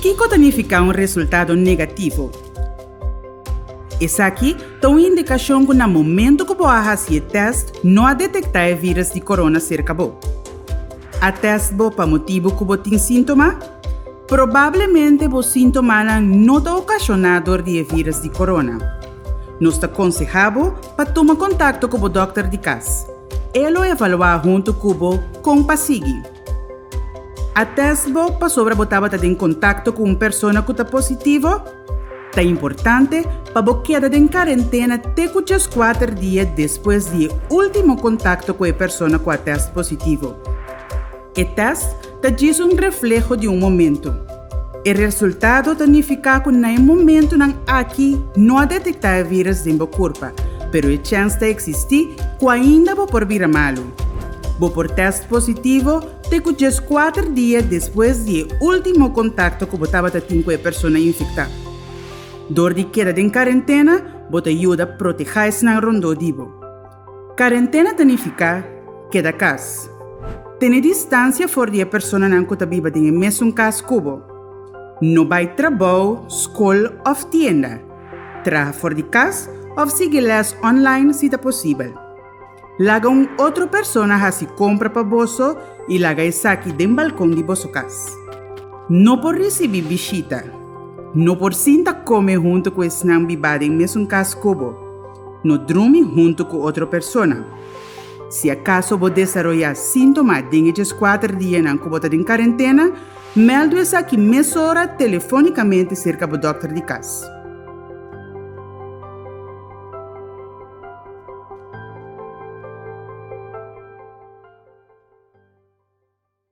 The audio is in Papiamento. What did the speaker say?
Kiko ta nifiká un resultado negativo? Esaki ta un indikashon ku na momentu ku bo a hasi e tèst no a detektá e vírus di corona serka bo. A tèst bo pa motibu ku bo tin síntoma? Probablemente bo síntomanan no ta okashoná dor di e vírus di corona. Nos ta konsehá bo pa tuma kontakto ku bo dòkter di kas. E lo evaluá huntu ku bo kon pa sigui. A tèst bo pasobra bo tabata den kontakto ku un persona ku ta positivo? Ta importante pa bo keda den karentena te ku djeskuater dia despues di e último kontakto ku e persona ku a tèst positivo. E tèst ta djis un refleho di un momentu. E resultado ta nifiká ku na e momentunan aki no a detektá e vírus den bo kurpa, pero e chèns ta eksistí ku ainda bo por bira malu. Bo por tèst positivo te ku djes kuater dia despues di e último kontakto ku bo tabata tin ku e persona infektá. Dor di keda den karentena, bo ta yuda protehá esnan rondó di bo. Karentena ta nifiká keda kas. Tene distansia for di e personanan ku ta biba den e mesun kas ku bo. No bai trabou, skol òf tienda. Traha for di kas òf sigui lès online si ta posibel. Laga un otro persona hasi kompra pa boso i laga esaki den balkon di boso kas. No por risibí bishita. No por sinta kome huntu ku esnan bibá den mesun kas ku bo. No drumi huntu ku otro persona. Si akaso bo desaroyá síntoma den e djeskuater dianan ku bo ta den karentena, mèldu esaki mesora telefónikamente serka bo dòkter di kas.